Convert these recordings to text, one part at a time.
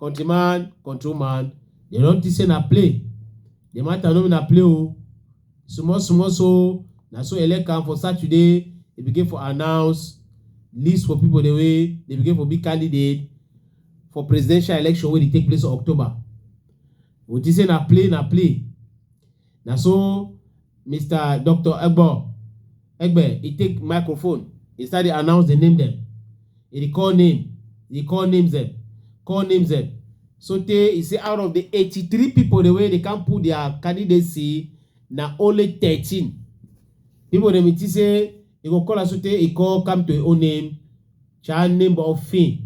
Country man, control man, dem don think say na play. The matter no be na play o. Small small so na so Elekan for Saturday e begin for announce list for people the way they begin for be candidate for presidential election wey dey take place for October. We think say na play na play. Na so Mister Doctor Egbo Egbe e take microphone, e start dey announce the name dem. E dey call name, e dey call names dem, call names dem. So tey e say out of the eighty-three people dem wey dey come put their candidacy, na only thirteen people dem e think say e go call am so tey e call come to im own name Cha name of fin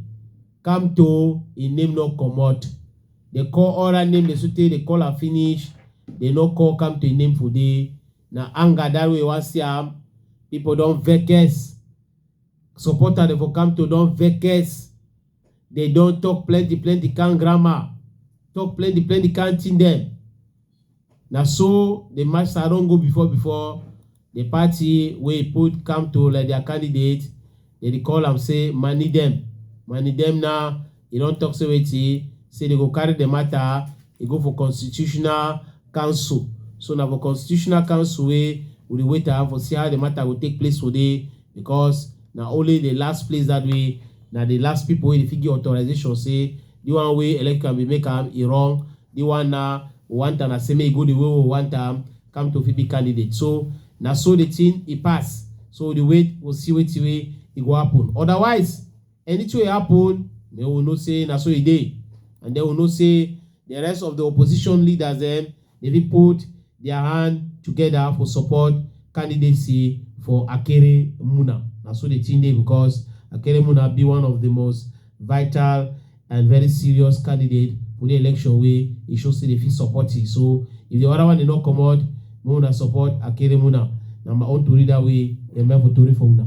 come to im name no comot. Dey call oral name dey so tey dey call am finish, dey no call come to im name for dey. Na anger that way wan see am. People don vex. Supporter dey for come to don vex. Dey don talk plenty plenty kind grammar, talk plenty plenty kind thing dem. Na so the master don go before before the party wey e put come to like their candidate, they dey call am say money dem. Money dem now, e don talk say wetin, say they go carry the matter, e go for constitutional council. So na for constitutional council wey we dey wait am for see how the matter go take place today. because na only the last place that way na the last people wey dey fit give authorization say the one wey electrical bin make am e wrong the one na one time na say make e go the way we want am come to fit be candidate so na so the thing e pass so the wait go see wetin wey e go happen otherwise Anything wey happen, make we know say na so e dey and then we know say the rest of the opposition leaders dem dey fit put their hand together for support candidacy for Akere Muna. Na so the thing dey because Akere Muna be one of the most vital and very serious candidate for the election wey e show say dey fit support it. So if the other one dey not comot, Make una support Akeremuna. Na my own tori that way. Dem for tori for una.